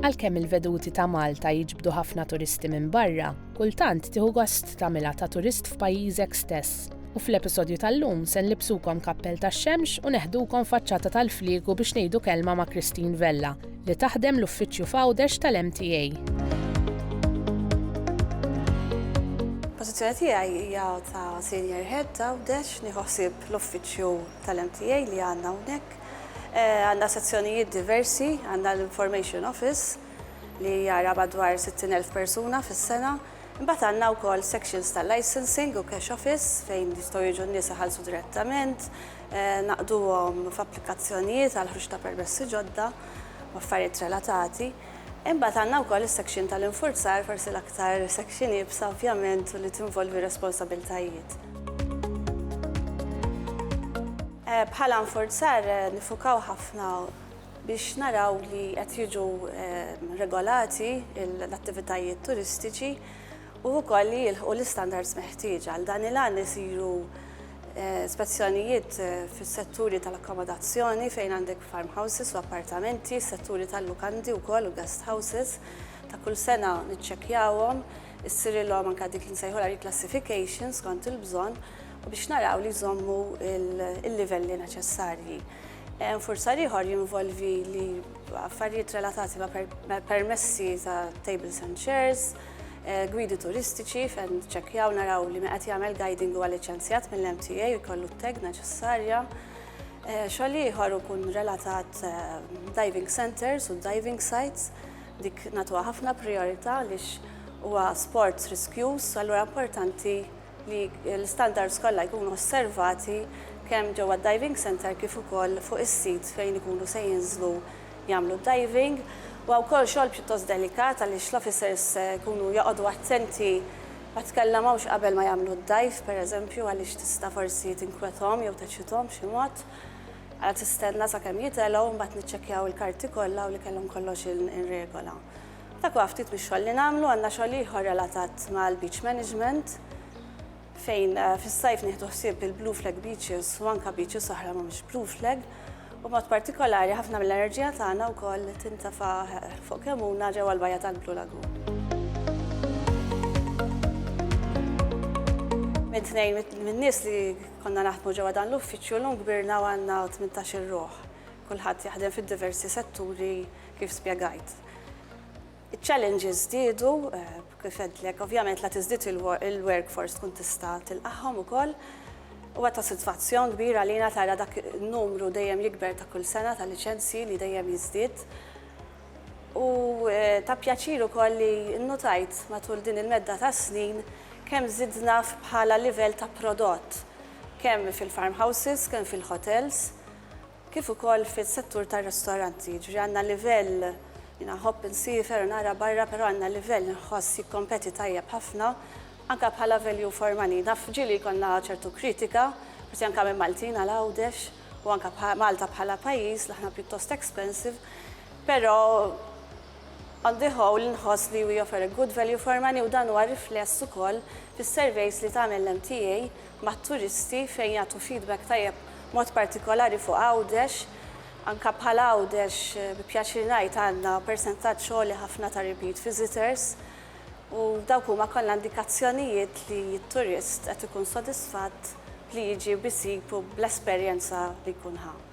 Għalkemm il-veduti ta' Malta jiġbdu ħafna turisti minn barra, kultant tieħu gost tagħmilha ta' turist f'pajjiżek stess. U fl-episodju tal-lum se nlibbsukom kappell tax-xemx u neħdukom faċċata tal-fliegu biex ngħidu kelma ma' Christine Vella, li taħdem l-uffiċċju f'Għawdex tal-MTA. Pożizzjoni tiegħi hija ta' Senior Head t'Għawdex, nieħu ħsieb l-uffiċċju tal-MTA li għandna hawnhekk. Għandna sezzjonijiet diversi, għandna l-Information Office li jara madwar 60,000 persuna fis-sena. Imbagħad għandna wkoll sections tal-licensing u cash office fejn jistgħu jiġu n-nies iħallsu direttament, naqduhom f'applikazzjonijiet għall-ħruġ ta' permessi ġodda u affarijiet relatati. Imbagħad għandna wkoll is-section tal-infurzar, forsi l-aktar section iebsa ovvjament u li tinvolvi responsabiltajiet. Bħala infurzar niffukaw ħafna biex naraw li qed jiġu regolati l-attivitajiet turistiċi u wkoll li jilħqu l-istandards meħtieġa. Għal dan il-għan isiru Spezzjonijiet fis-setturi tal-akkomodazzjoni fejn għandek farmhouses u appartamenti, setturi tal-lukandi wkoll u guest houses. Ta' kull sena niċċekkjawhom, issirilhom anke dik li nsejħulha reclassification skont il-bżonn u biex naraw li jżommu l-livelli neċessarji. Infurzar ieħor jinvolvi li affarijiet relatati ma' permessi ta' tables and chairs, Eh, gwidi turistiċi fejn ċekjaw naraw li meqet jagħmel guiding huwa liċenzjat mill-MTA u jkollu t-tag neċessarja. Eh, xogħol ieħor ikun relatat eh, diving centers u diving sites dik natuha ħafna priorità lix huwa sport riskjuż, allura importanti li l-istandards kollha jkunu osservati kemm ġewwa d-diving centre kif ukoll fuq is-sit fejn ikunu se jinżlu jagħmlu d-diving. Huwa wkoll xogħol pjuttost delikat għaliex l-officers jkunu joqogħdu attenti ma tkellemhomx qabel ma jagħmlu d-dive pereżempju għaliex tista' forsi tinkwethom jew teċċithom b'xi mod. Ara tistenna sakemm jitelgħu u mbagħad niċċekkjaw il-karti kollha u li kellhom kollox in regola. Dak huwa ftit mix-xogħol li nagħmlu. Għandna xogħol ieħor relatat mal-beach management fejn fis-sajf nieħdu ħsieb il-blue flag beaches u anke beaches oħra mhumiex blue flag u b'mod partikolari ħafna mill-enerġija tagħna wkoll tintefa' fuq Kemmuna ġewwa l-bajja tal-Blue Lagoon. Minn tnejn min-nies li konna naħdmu ġewwa dan l-uffiċċju llum kbirna u għandna tmintax-il ruħ. Kulħadd jaħdem fid-diversi setturi kif spjegajt. Iċ-challenges żdiedu, kif għedtlek, ovvjament la tiżdied il-workforce tkun tista' tilqagħhom ukoll. Huwa ta' sitwazzjon kbir għalina tara dak in-numru dejjem jikber ta' kull sena ta' liċenzji li dejjem jiżdied. U ta' pjaċir ukoll li nnutajt matul din il-medda ta' snin kemm żidna bħala livell ta' prodott, kemm fil-farmhouses, kemm fil-hotels, kif ukoll fis-settur tar-ristoranti, jiġifieri għandna livell, jiena nħobb insiefer u nara barra però għandna livell inħoss jikkompeti tajjeb ħafna anke bħala value for money. Naf ġieli jkollna ċertu kritika, forsi anke minn Maltin għal Għawdex u anke Malta bħala pajjiż li aħna pjuttost expensive, però on the whole nħoss li we offer a good value for money u dan huwa rifless ukoll fis-surveys li tagħmel l-MTA mat-turisti fejn jagħtu feedback tajjeb b'mod partikolari fuq Għawdex. Anke bħal Għawdex bi pjaċir ngħid għandna persentaġġ għoli ħafna ta' repeat visitors u dawk huma kollha indikazzjonijiet li t-turist qed ikun sodisfatt b'li jiġi u b'isib u bl-esperjenza li jkun ħa.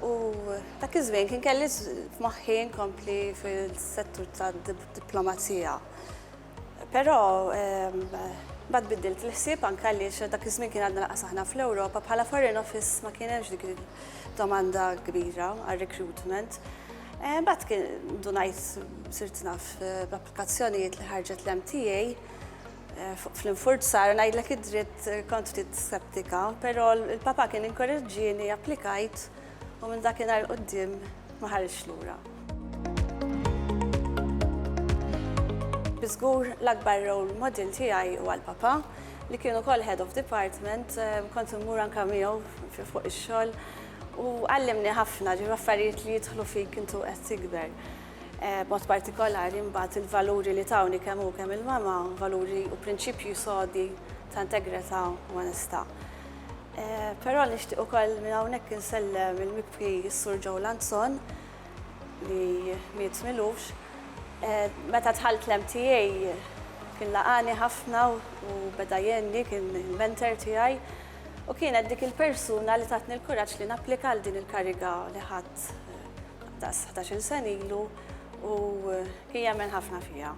U dak iż-żmien kien kelli f'moħħi nkompli fil-settur tad-diplomazija. Però mbagħad biddilt il-ħsieb anke għaliex dak iż-żmien kien għadna lanqas aħna fl-Ewropa, bħala Foreign Office ma kien hemmx dik id-domanda kbira għar-recruitment. Mbagħad kien ndunajt sirt naf b'applikazzjonijiet li ħarġet l-MTA fl-infurzar, ngħidlek id-dritt kont ftit skeptika, però l-Papa kien inkoraġġieni, applikajt u minn dakinhar 'l quddiem ma ħarġtx lura. Bi żgur l-akbar role model tiegħi huwa l-Papa, li kien ukoll Head of Department, kont immur anke miegħu fuq ix-xogħol u għallimni ħafna, ġifieri affarijiet li jidħlu fik intu qed tikber. b'mod partikolari mbagħad il-valuri li tawni kemm hu kemm il-mama, valuri u prinċipji sodi ta' integrità u onestà. Eh, però nixtieq ukoll minn hawnhekk insellem il-mibki s-Sur Joe Lanzon li miet milux. Eh, meta tħalt l-MTA kien laqani ħafna u beda jenni kien il-mentor tiegħi u kienet dik il-persuna li tatni l-kuraġġ li napplika għal din il-kariga li ħadd. daqs ħdax-il sena ilu u kien jemmen ħafna fija.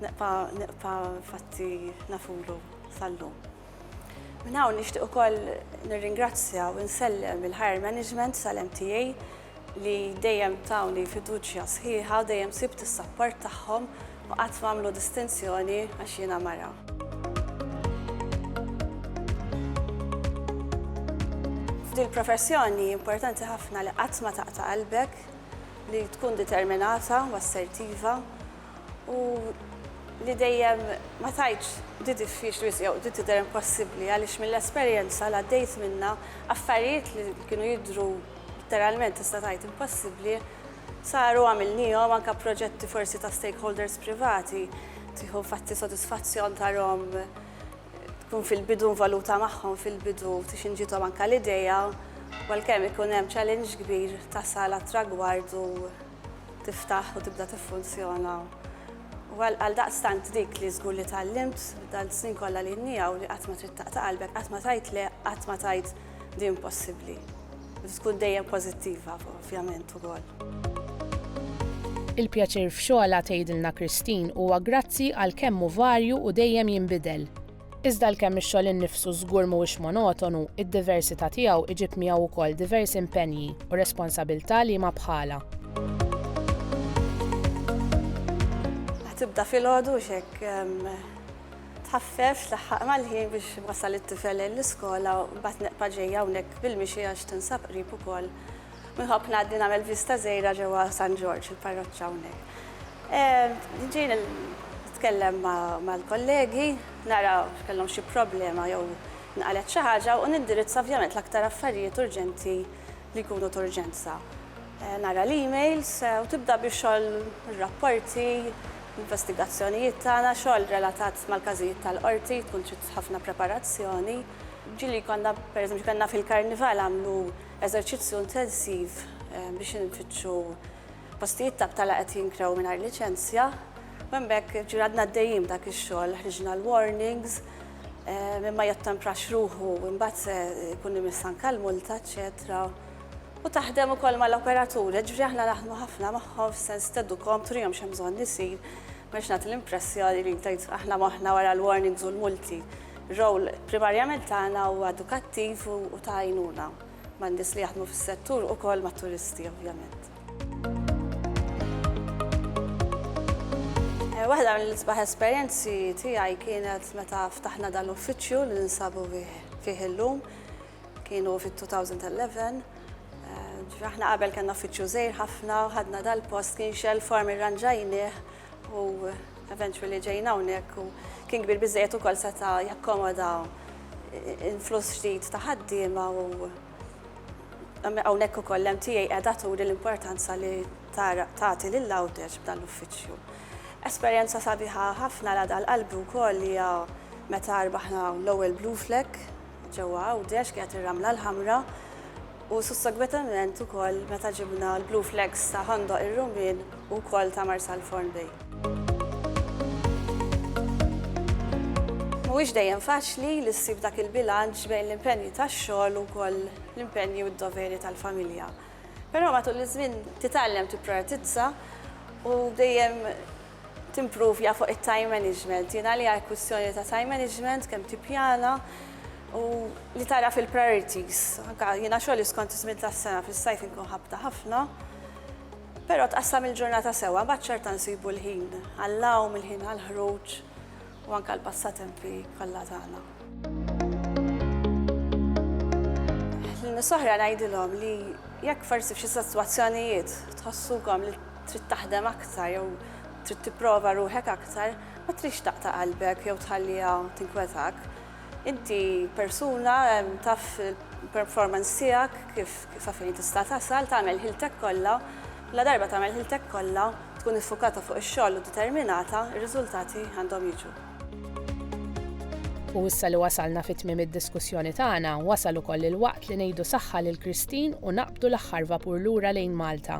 Neqpa' neqpa' fatti nafulu sal-lum. Minn hawn nixtieq ukoll nirringrazzja u nsellem il-hire management tal-MTA li dejjem tawni fiduċja sħiħa u dejjem sibt is-sapport tagħhom U qatt m'għamlu distinzjoni għax jiena mara. F'dil-professjoni importanti ħafna li qatt ma taqta' qalbek, li tkun determinata u assertiva u li dejjem ma tajtx di diffiċli jew di tidher impossibbli għaliex mill-esperjenza li għaddejt minnha affarijiet li kienu jidhru literalment tista' tgħid impossibbli Saru, għamilniehom, anke proġetti forsi ta' stakeholders privati, tieħu fatti sodisfazzjon tarhom tkun fil-bidu involuta magħhom fil-bidu tix inġiethom anke l-idea u għalkemm ikun hemm challenge kbir tasal għat-tragward u tiftaħ u tibda tiffunzjona. U għaldaqstant dik li żgur li tgħallimt dan snin kollha li inni hawn li qatt ma trid taqta' qalbek, qatt ma tgħid le, qatt ma tgħid din possibbli. Li tkun dejjem pożittiva ovvjament ukoll. Il-pjaċir f'xogħlha, tgħidilna Christine, huwa grazzi għal kemm hu varju u dejjem jinbidel. Iżda għalkemm ix-xogħol innifsu żgur mhuwiex monotonu, id-diversità tiegħu iġib miegħu wkoll diversi impenji u responsabilità liema bħalha. Tibda filgħodu u x'hekk. Tħaffef, tlaħħaq mal-ħin biex wasal it-tifel lejn l-iskola u mbagħad neqpa' ġej hawnhekk bil-mixi għax tinsab qrib ukoll. U nħobb ngħaddi nagħmel vista żgħira ġewwa San Ġorġ, il-parroċċa hawnhekk. Ġej nitkellem mal-kollegi, nara x'kellhom xi problema jew inqalgħet xi ħaġa u nindirizza ovvjament l-aktar affarijiet urġenti li jkunu t'urġenza. Nara l-emails u tibda bi xogħol ir-rapporti, l-investigazzjonijiet tagħna, xogħol relatat mal-każijiet tal-Qorti, tkun trid ħafna preparazzjoni. Ġieli konna, pereżempju kellna fil-Karnival għamlu eżerċizzju intensiv biex infittxu Postijiet ta' btala qed jinkrew mingħajr liċenzja u minn b'hekk ġieli għadna għaddejjin b'dak ix-xogħol, ħriġna l-warnings, min ma jottemprax ruħu imbagħad se jkun imiss anke l-multa eċċetera. U taħdem ukoll mal-operaturi, jiġifieri aħna naħdmu ħafna magħhom fis-sens tgħeddukhom, turihom x'hemm bżonn isir, ma rridx nagħti l-impressjoni li tgħid aħna moħħna wara l-warnings u l-multi. Ir-role primarjament tagħna huwa edukattiv u ta' għajnuna. man-nies li jaħdmu fis-settur ukoll mat-turisti ovvjament. Waħda mill-isbaħ esperjenzi tiegħi kienet meta ftaħna dan l-uffiċċju li ninsabu fih illum. Kienu fit-2011. Aħna qabel kellna uffiċċju żgħir ħafna u ħadna dal-post kien xell form irranġajnieh U eventually ġejna hawnhekk u kien kbir biżejjed ukoll seta' jakkomoda influss ġdid ta' ħaddiema u hawnhekk ukoll l-MTA qiegħda turi l-importanza li tagħti lil Għawdex b'dan l-uffiċċju. Esperjenza sabiħa ħafna la dal qalbi wkoll li hija meta rbaħna l-ewwel Blue Flag ġewwa Għawdex kienet ir-Ramla l-Ħamra u sussegwetement ukoll meta ġibna l-Blue Flags ta' Ħandoq ir-Rumien u wkoll ta' Marsalforn Bay. Mhuwiex dejjem faċli li ssib dak il-bilanċ bejn l-impenji tax-xogħol u wkoll l-impenji u d-doveri tal-familja. Però matul iż-żmien titgħallem tipprioritizza u dejjem Timpruvja fuq it-time management. Din għalija hi kwistjoni ta' time management, kemm tippjana u li tagħraf il-priorities. Anke jiena xogħli skont iż-żmien tas-sena fis-sajf inkun ħabta ħafna, però tqassam il-ġurnata sewwa imbagħad xorta nsibu l-ħin għall-għawm, il-ħin għall-ħruġ u anke l-passatempi kollha tagħna. Lin-nies l-oħra ngħidilhom li jekk forsi f'xi sitwazzjonijiet tħossukom li. trid taħdem aktar jew trid tipprova ruħek aktar, ma tridx taqta' qalbek jew tħalliha tinkwetak. Inti persuna, taf il-performance tiegħek kif sa fejn tista' tasal, tagħmel ħiltek kollha, ladarba tagħmel ħiltek kollha, tkun iffukata fuq ix-xogħol u determinata, ir-riżultati għandhom jiġu. U issa li wasalna fi tmiem id-diskussjoni tagħna, wasal ukoll il-waqt li ngħidu saħħa lil Christine u naqbdu l-aħħar vapur lura lejn Malta.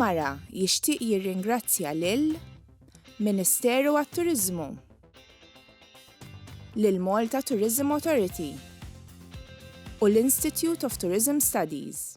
Il-Mara jixtieq jirringrazzja lil Ministeru għat-Turiżmu, lill-Malta Tourism Authority u l-Institute of Tourism Studies.